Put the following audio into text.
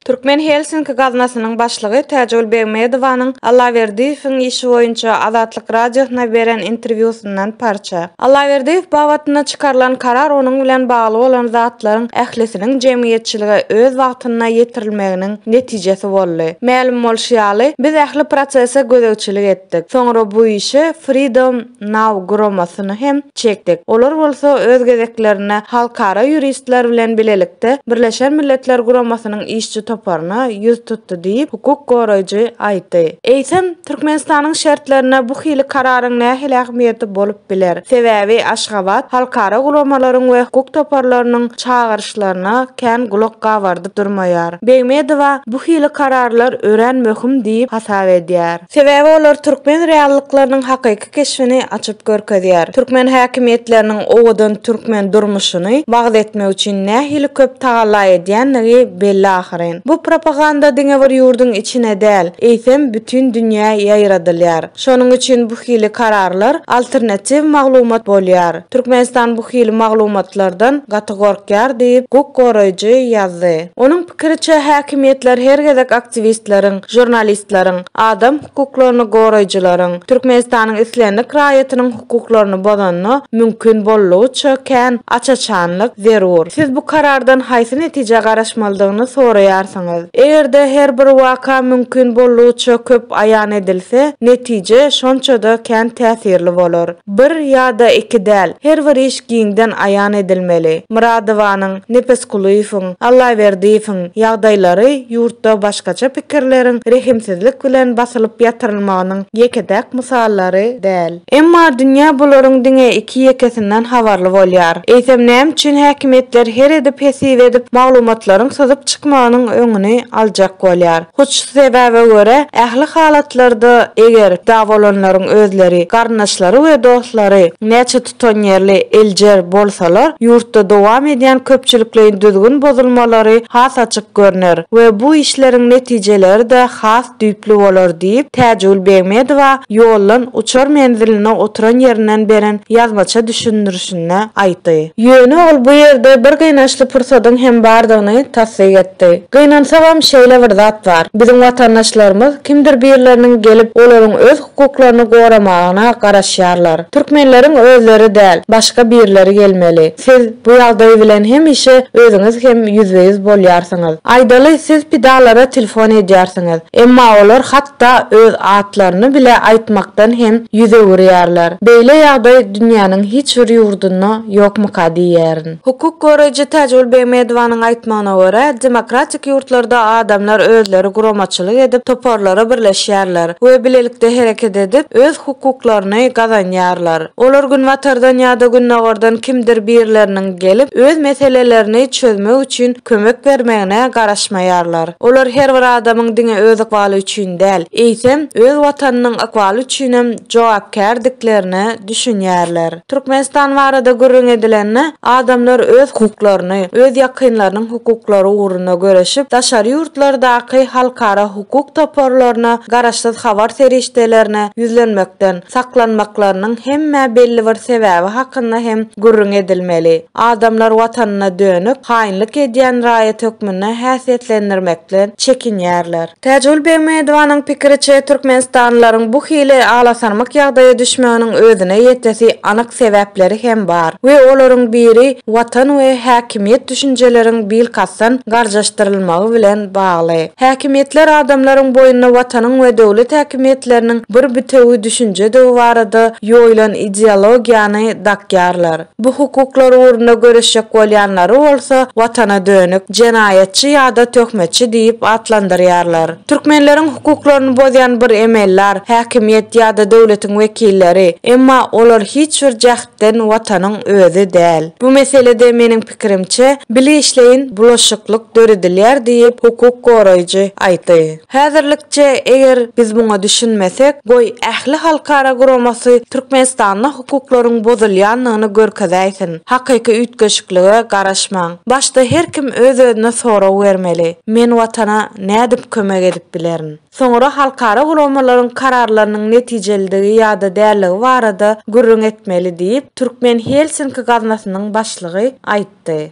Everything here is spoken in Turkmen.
Türkmen Helsinki gaznasynyň başlygy Täjigül Begmedowanyň Allaberdiýewiň işi boýunça Azatlyk Radiosyna beren interwýusyndan parça. Allaberdiýew babatynda çykarylan karar onuň bilen bagly bolan zatlaryň ählisiniň jemgyýetçilige öz wagtynda ýetirilmeginiň netijesi boldy. Mälim bolşy ýaly, biz ähli prosese gözegçilik etdik. Soňra bu işi Freedom. NAW guramasyny hem çekdik. Olar bolsa öz gezeklerinde halkara ýuristler bilen bilelikde Birleşen Milletler Guramasynyň işçi toparyna ýüz tutdy diýip, hukuk goraýjy aýtdy. Eýsem, Türkmenistanyň şertlerinde bu hili kararyň nähili ähmiýeti bolup biler? Sebäbi Aşgabat halkara guramalaryň we hukuk toparlarynyň çagyryşlaryna kän gulak gabardyp durmaýar. Begmedowa bu hili kararlar örän möhüm diýip hasap edýär. Sebäbi olar türkmen reallyklarynyň hakyky keşbini açyp görkezýär. Türkmen häkimiýetleriniň owadan türkmen durmuşyny wagyz etmek üçin nähili köp tagalla edýändigi belli ahyryn. Bu propaganda diňe bir ýurduň içine däl, eýsem bütin dünýä ýaýradylýar. Şonuň üçin bu hili kararlar alternatiw maglumat bolýar. Türkmenistan bu hili maglumatlardan gaty gorkýar diýip, hukuk goraýjy ýazdy. Onuň. Pikiriçe, häkimiýetler her gezek aktiwistleriň, žurnalistleriň, adam hukuklaryny goraýjylaryň Türkmenistanyň islendik raýatynyň hukuklaryny bozanyna, mümkin boldugyça kän aç-açanlyk zerur. Siz bu karardan haýsy netijä garaşmalydygyny soraýarsyňyz. Eger-de her bir waka mümkin boldugyça köp aýan edilse, netije şonça-da kän täsirli bolar. Bir ýa-da iki däl, her bir iş giňden aýan edilmeli. Myradowanyň, Nepesgulyýewiň, Allaberdiýewiň ýagdaýlary ýurtda başgaça pikirleriň rehimsizlik bilen basylyp ýatyrylmagynyň ýeke-täk mysallary däl. Emma dünýä bularyň diňe iki-ýekesinden habarly bolýar. Eýsem näme üçin häkimiýetler her edip-hesip edip maglumatlaryň syzyp çykmagynyň öňüni aljak bolýar? Hut şu sebäbe görä, ähli halatlarda, eger dawalanlaryň özleri, garyndaşlary we dostlary näçe tutanýerli, eljer, bolsalar, ýurtda dowam edýän köpçülikleýin düzgün bozulmalary has açyk görner we bu işleriň netijeleri-de has düýpli bolar diýip, Täjigül Begmedowa Ýollan uçar menziline oturan ýerinden beren ýazmaça düşündirişde. çykyşynda aýtdy. Ýöne ol bu ýerde bir gynançly pursadyň hem bardygyny tassyk etdi. Gynansagam şeýle bir zat bar, biziň watandaşlarymyz kimdir birleriniň gelip olaryň öz hukuklaryny goramagyna garaşýarlar. Türkmenleriň özleri däl, başga birleri gelmeli. Siz bu ýagdaý bilen hemişe özüňiz hem ýüzbe-ýüz bolýarsyňyz. Aýdaly siz pidalara telefon edýärsiňiz, emma olar hat hatda öz atlaryny bile aýtmakdan hem ýüz öwürýärler. Beýle ýagdaý dünýäniň hiç bir ýurdunda ýokmyka diýýärin. Hukuk goraýjy Täjigül Begmedowanyň aýtmagyna görä, demokratik ýurtlarda adamlar özleri guramaçylyk edip, toparlara birleşýärler we bilelikde hereket edip, öz hukuklaryny gazanýarlar. Olar günbatardan ýa-da gündogardan kimdir birleriniň gelip, öz meselelerini çözmek üçin kömek bermegine garaşmaýarlar. Olar her bir adamyň diňe öz ykbaly üçin däl, eýsem, öz Watanynyň ykbaly üçinem jogapkärdiklerine düşünýärler. Türkmenistan barada gürrüň edilende, adamlar öz hukuklaryny, öz ýakynlarynyň hukuklary ugrunda göreşip, daşary ýurtlardaky halkara hukuk toparlaryna, garaşsyz habar serişdelerine ýüzlenmekden saklanmaklarynyň hem-ä belli bir sebäbi hakynda hem gürrüň edilmeli. Adamlar watanyna dönük, haýynlyk edýän raýat hökmünde häsiýetlendirmekden çekinýärler. Täjigül Begmedowanyň pikiriçe, türkmenistanlylaryň bu hili alasarmyk ýagdaýa düşmeginiň özüne ýetesi anyk sebäpleri hem bar we olaryň biri watan we häkimiýet düşünjeleriň bilkastdan garjaşdyrylmagy bilen bagly. Häkimiýetler adamlaryň boýunda watanyň we döwlet häkimiýetleriniň bir bütewi düşünjedigi barada ýoýlan ideologiýany dakýarlar. Bu hukuklar ugrunda göreşjek bolýanlary bolsa Watana dönük, jenaýatçy ýa-da töhmetçi diýip atlandyrýarlar. Türkmenleriň hukuklaryny bozýan bir emeldar, häkimiýet ýa-da döwletiň wekilleri, emma olar hiç bir jähtden Watanyň özi däl. Bu meselede, meniň pikirimçe, bileşleýin bulaşyklyk döredilýär diýip, hukuk goraýjy aýtdy. Häzirlikçe, eger biz muňa düşünmesek, goý, ähli halkara guramasy Türkmenistanda hukuklaryň bozulýandygyny görkezäýsin. Hakyky üýtgeşiklige garaşmaň. Başda her kim öz-özüne sorag bermeli, Men Watana nädip kömek edip bilerin? Soňra halkara guramalaryň kararlarynyň netijelidigi ýa-da däldigi barada gürrüň etmeli diýip, türkmen Helsinki gaznasynyň başlygy aýtdy.